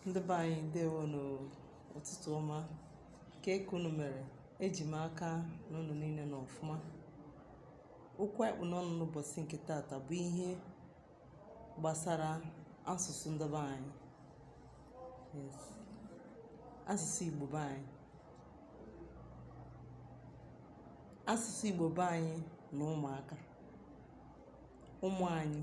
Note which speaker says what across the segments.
Speaker 1: ndị be anyị ndewo n'ụtụtụ ọma kee ka unu mere eji m aka na unu niile nọ ọfụma okwu anyị kpụ n'ọnụ n'ụbọsị nke taata bụ ihe gbasara asụsụ ndị be anyị yes asụsụ igbo be anyị asụsụ igbo be anyị na ụmụaka ụmụ anyị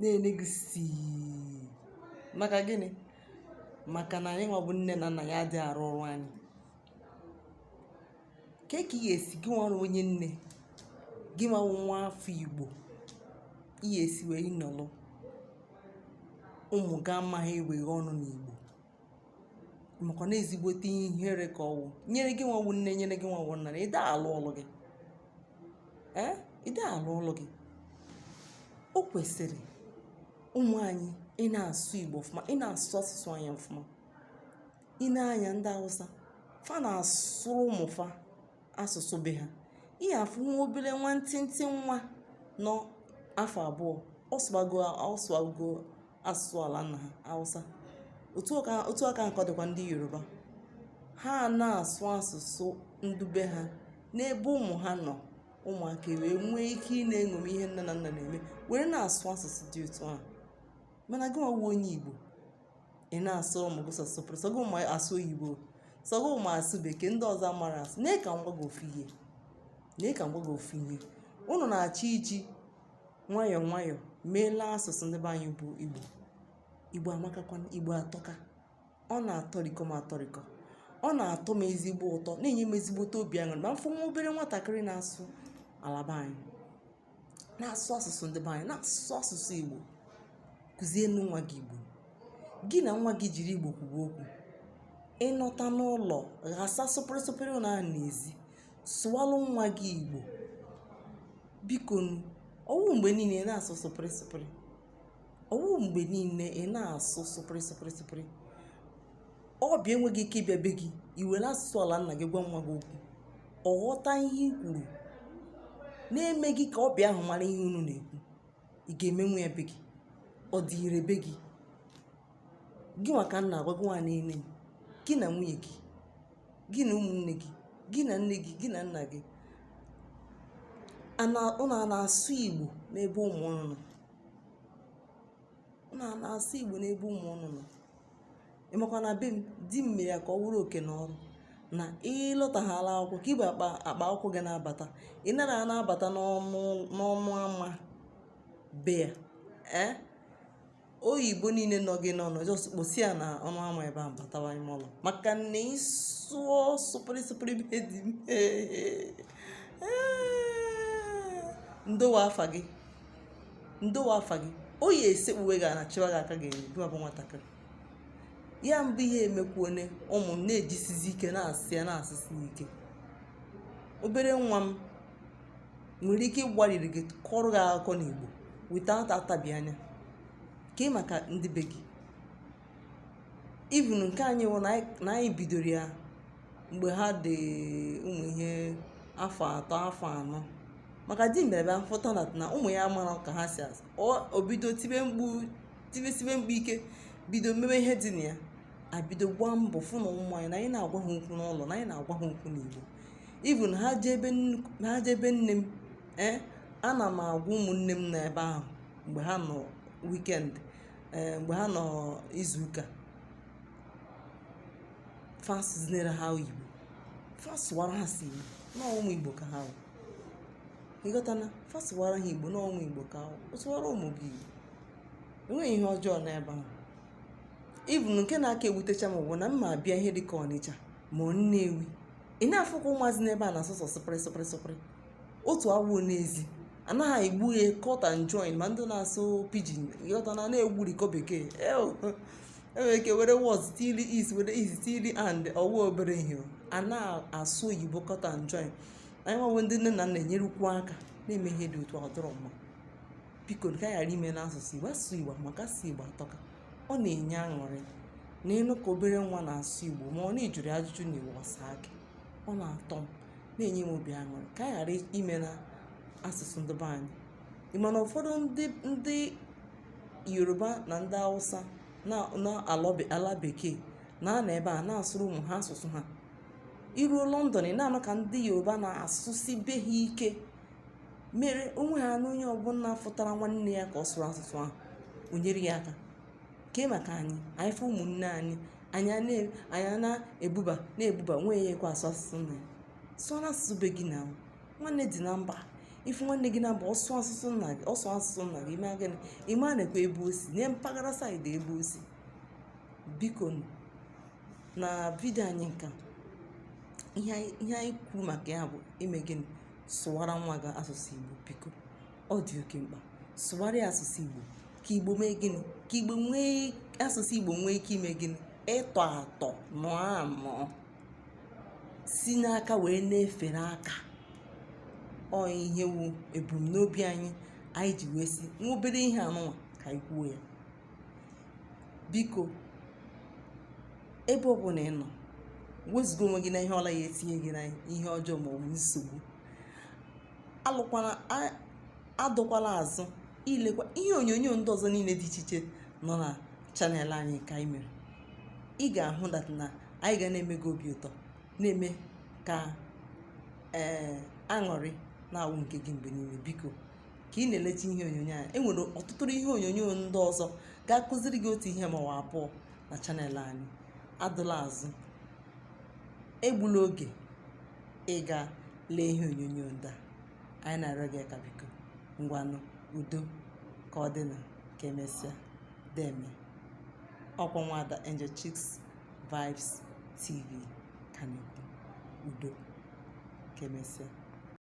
Speaker 1: na-ele gị sii maka gịnị maka na anyị nwa bụ nne na nna ga adị arụ ọrụ anyị kee ka ị ga-esi gị nwa wụ onye nne gị nwa bụ nwa afọ igbo ị ga-esi wee nọlụ ụmụ gị amaghị eweghe ọnụ n'igbo maka na ezigbote ihere ka ọ wụ nyere gị nwa wụ nne nyere gị nwa wụ nna na ị da alụ ọlụ gị ee ị da alụ ọlụ gị o kwesịrị ụmụ anyị ị na-asụ igbo ọfụma ị na-asụ asụsụ anyị ọfụma i nee anya ndị hausa fa na-asụrụ ụmụ fa asụsụ be ha ị ya-afụ nwa obere nwantịntị nwa nọ afọ abụọ ọ sụbago ọ sụbago asụsụ ala nna ha Hausa otu aka otu aka ahụ ka ọ dịkwa ndị Yoruba ha na-asụ asụsụ ndị be ha n'ebe ụmụ ha nọ ụmụaka ewee nwee ike ị na-eṅomi ihe nne na nna na-eme were na-asụ asụsụ dị otu ahụ mana gị nwa wụ onye Igbo ị na-asụrụ ụmụ gị sọsọ sụpịrị sọ gị ma asụ oyibo sọ gị ma asụ bekee ndị ọzọ amarọ asụ na ka m gwa gị ofu ihe na ka m gwa gị ofu ihe ụnụ na-achọ iji nwayọọ nwayọọ meela asụsụ ndị be anyị bụ igbo igbo amakakwa igbo atọka ọ na-atọrikọ m atọrikọ ọ na-atọ m ezigbo ụtọ na-enye m ezigbote obi aṅụrị ma m fụ nwa obere nwatakịrị na-asụ ala be anyị na-asụ asụsụ ndị be anyị na-asụ asụsụ igbo kụzienụ nwa gị igbo gị na nwa gị jiri igbo kwuba okwu ị nọta n'ụlọ ghasa sụpịrịsụpịrị unu ahụ n'ezi sụwalụ nwa gị igbo bikonụ ọ wụ mgbe niile ị na-asụ sụpịrị sụpịrị ọ wụ mgbe niile ị na-asụ sụpịrị sụpịrị sụpịrị ọbịa enweghị ike ịbịa be gị i were asụsụ ala nna gị gwa nwa gị okwu ọ ghọta ihe i kwuru na-emeghị ka ọbịa ahụ mara ihe unu na-ekwu ị ga-emenwu ya be gị ọ dị ire be gị gị nwa ka m na-agwa gị nwa niile gị na nwunye gị gị na ụmụnne gị gị na nne gị gị na nna gị ụnụ ana-asụ igbo n'ebe ụmụ ụnụ nọ ụnụ ana-asụ igbo n'ebe ụmụ ụnụ nọ ị makwa na be m di m mere ya ka ọ wụrụ oke na ọrụ na ị lọtahaala akwụkwọ ka i bu akpa akwụkwọ gị na-abata ị nara na-abata n'ọnụ ama be ya ee oyibo niile nọ gị n'ọnụ just kposa ya na ọnụ ama ebe ahụ batawa ime ụlọ maka na ịsụọ sụpịrị sụpịrị be di m ndowe afa gị ndowe afa gị oyi esekpuwe gị na chịwa gị aka ga-enye gị ma ọ bụ nwatakịrị ya mbụ ihe emekwuone ụmụ m na-ejisizi ike na-asụ ya na-asụsi ike obere nwa m nwere ike ịgbaliri gị kọrọ gị akụkọ n'igbo without atabi anya kee maka ndị be gị even nke anyị wụ na anyị- na anyị bidoro ya mgbe ha dị ụmụ ihe afọ atọ afọ anọ maka di m mere bịa fụta na na ụmụ ya amarọ ka ha si asụ Ọ- o bido tibe mkpu tisibe mkpu ike bido mebe ihe dị na ya abido gbaa mbọ fụ na ụmụ anyị na anyị na-agwa ha okwu n'ụlọ na anyị na-agwa ha okwu n'igbo even ha jee ebe ha jee ebe nne m ee eh, ana m agwa ụmụnne m na ebe ahụ mgbe ha nọ weekend eh, mgbe ha nọ izuụka fa sụzinere ha igbo fa sụwara ha si igbo na ụmụ igbo ka ha wụ ị ghọtana fa sụwara ha igbo na ụmụ igbo ka ha wụ sụwara ụmụ gị igbo enweghị ihe ọjọọ n'ebe ahụ even nke na-aka ewutecha m bụ na m ma abịa ihe dịka ọnịcha ma ọ nnewi ị na-afụkwa ụmụazị n'ebe a na-asụ sọ sụpịrị sụpịrị sụpịrị otu awụọ n'ezi anaghị egbu ya cut and join ma ndị na-asụ pidgin ị ghọta na na-egburikọ bekee enwere ike were was tili is were is tili and ọwa obere ihe a na-asụ oyibo cut and join anyị nwa wụ ndị nne na nna enyerukwu aka na-eme ihe dị otu ọ dịrọ mma biko ka ghara imena asụsụ igbo asụsụ igbo maka asụsụ igbo atọka ọ na-enye aṅụrị na ịnụ ka obere nwa na-asụ igbo ma ọ na ị jụrụ ajụjụ na igbo ọ saa gị ọ na-atọ m na-enye m obi aṅụrị ka anyị ghara imena asụsụ ndị be anyị ị ma na ụfọdụ ndị ndị yoruba na ndị hausa n'ala bekee na-anọ ebe a na-asụrụ ụmụ ha asụsụ ha i ruo london ị na-anụ ka ndị yoruba na-asụsi be ha ike mere onwe ha na onye ọbụla fụtara nwanne ya ka ọ sụrụ asụsụ ahụ o nyere ya aka kee maka anyị anyị fụ ụmụnne anyị anyị na-ebuba na-ebuba nwee ya ekwe asụ asụsụ na ya sụọ n'asụsụ be gị na nwanne dị na mba ị fụ nwanne gị na mba ọ sụọ asụsụ nna gị ọ sụọ asụsụ nna gị i mee gịnị ị maa nekwa ebe o si nee mpaghara side ebe o si biko na video anyị nka ihe anyị kwuru maka ya bụ ime gịnị sụwara nwa gị asụsụ igbo biko ọ dị oke mkpa sụwara ya asụsụ igbo ka igbo mee gịnị ka igbo nwee asụsụ igbo nwee ike ime gịnị ịtọ atọ nọọ anọ si n'aka wee na-efere aka ọ ihe wu ebumnobi anyị anyị ji wee sị nwa obere ihe anụnwa ka anyị kwuo ya biko ebe ọ bụla ị nọ wezụga onwe gị na ihe ọ bụla ga-etinye gị na ihe ọjọọ ma ọ bụ nsogbu alụkwala adọkwala azụ ilekwa ihe onyonyo ndị ọzọ niile dị iche iche nọ na channel anyị nke anyị mere ị ga-ahụ that na anyị ga na-eme gị obi ụtọ na-eme ka ee eh, aṅụrị na-awụ nke gị mgbe niile biko ka ị na-elecha ihe onyonyo a e nwere ọtụtụ ihe onyonyo ndị ọzọ ga-akụziri gị otu ihe ma ọ bụ abụọ na channel anyị adụla azụ egbula oge ịga lee ihe onyonyo ndị a anyị na-arịọ gị ka biko ngwanụ udo ka ọ dị na ka emesịa deme ọ kwa nwaada Angel Chicks Vibes TV ka na-ekwu udo ka emesịa